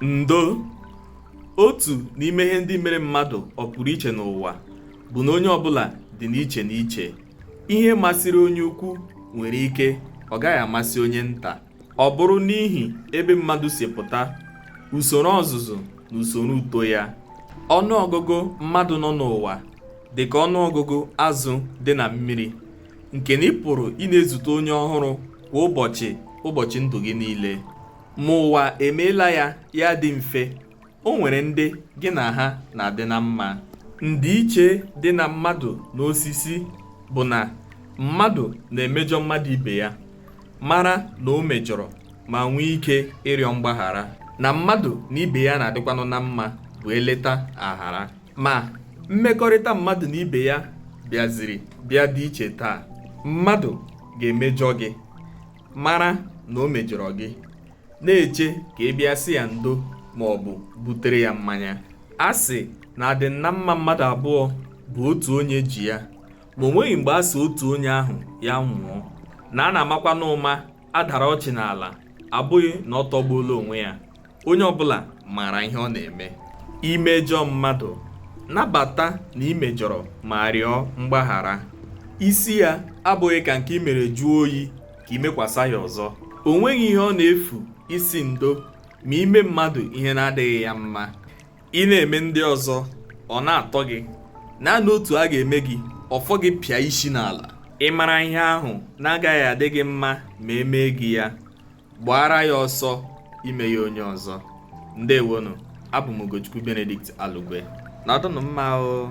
ndo otu n'ime ihe ndị mere mmadụ ọ pụrụ iche n'ụwa bụ na onye ọbụla dị n'iche n'iche ihe masịrị onye ukwu nwere ike ọ gaghị amasị onye nta ọ bụrụ n'ihi ebe mmadụ si pụta usoro ọzụzụ na usoro uto ya ọnụ ọgụgụ mmadụ nọ n'ụwa dị ka ọnụ ọgụgụ azụ dị na mmiri nke na ị pụrụ ịna-ezute onye ọhụrụ kwa ụbọchị ụbọchị ndụ gị niile ma ụwa emeela ya ya dị mfe o nwere ndị gị na ha na-adị na mma ndịiche dị na mmadụ na osisi bụ na mmadụ na-emejọ mmadụ ibe ya mara na o mejọrọ ma nwee ike ịrịọ mgbaghara na mmadụ na ibe ya na-adịkwanụ na mma bụ eleta aghara ma mmekọrịta mmadụ na ibe ya bịaziri bịa dị iche taa mmadụ ga-emejọ gị mara na o mejọrọ gị na-eche ka ị bịa sị ya ndo ma ọ bụ butere ya mmanya a sị na adị na mma mmadụ abụọ bụ otu onye ji ya ma o nweghị mgbe a sị otu onye ahụ ya nwụọ na a na-amakwa n'ụma a dara ọchị n'ala abụghị na ọ tọgbuola onwe ya onye ọbụla maara ihe ọ na-eme i mejọọ mmadụ nabata na i mejọrọ ma rịọ mgbaghara isi ya abụghị ka nke i mere jụọ oyi ka i mekwasa ya ọzọ o nweghị ihe ọ na-efu ịsị ndo ma i mee mmadụ ihe na-adịghị ya mma ị na-eme ndị ọzọ ọ na-atọ gị naanị otu a ga-eme gị ọ fọ gị pịa isi n'ala ị mara ihe ahụ na-agaghị adị gị mma ma e mee gị ya gbaara ya ọsọ ime ya onye ọzọ ndewonụ abụ m Ugochukwu Benedict Alugwe nọdụnụ mma o